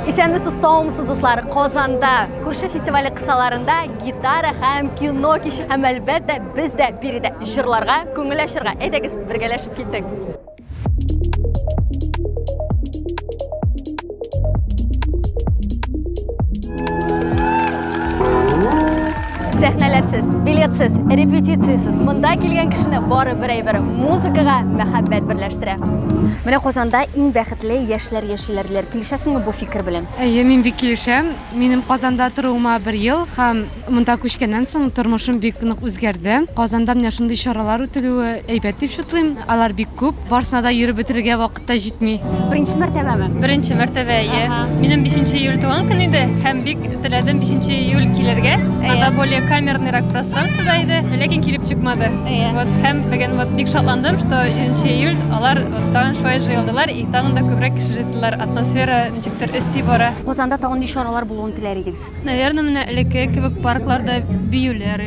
Исәнмесез, саумысыз, дуслар! Казанда күрше фестивале кысаларында гитара һәм кино кичи. Һәм әлбәттә, без дә биредә җырларга, күңел ачырга. Әйдәгез, бергәләшеп киттек. Сәхнәләрсез, билетсез, репетициясез монда килгән кешене бары бер әйбер музыкага мәхәббәт берләштерә. Менә Казанда иң бәхет Клей яшьләр яшиләр диләр. Килешәсеңме бу фикер белән? Әйе, мин бик килешәм. Минем Казанда торуыма бер ел һәм монда күчкәннән соң тормышым бик нык үзгәрде. Казанда менә шундый чаралар үтелүе әйбәт дип чутлыйм. Алар бик күп, барсына да йөреп бетерергә вакыт та җитми. Сез беренче мәртәбәме? Беренче мәртәбә, әйе. Минем бишенче июль туган көн иде һәм бик Теләдем 5 июль килергә. Ада более камерныйрак пространствода иде, ләкин килеп чыкмады. Вот һәм бүген вот бик шатландым, что 7 июль алар вот тагын шулай җыелдылар и тагын да күбрәк кеше җыйдылар. Атмосфера ничектер өсти бара. Казанда тагын ни чаралар булуын теләр идегез? Наверное, менә элекке кебек паркларда биюләр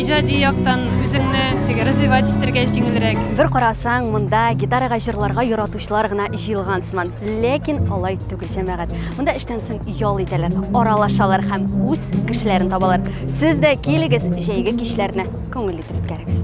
Иҗади яктан үзеңне теге развивать итәргә җиңелрәк. Бер карасаң, монда гитарага җырларга яратучылар гына җыелган сыман. Ләкин алай түгел, җәмәгать. Монда эштән соң ял итәләр, аралашалар һәм үз кешеләрен табалар. Сез дә килегез, җәйге кичләрне күңелле итеп үткәрегез.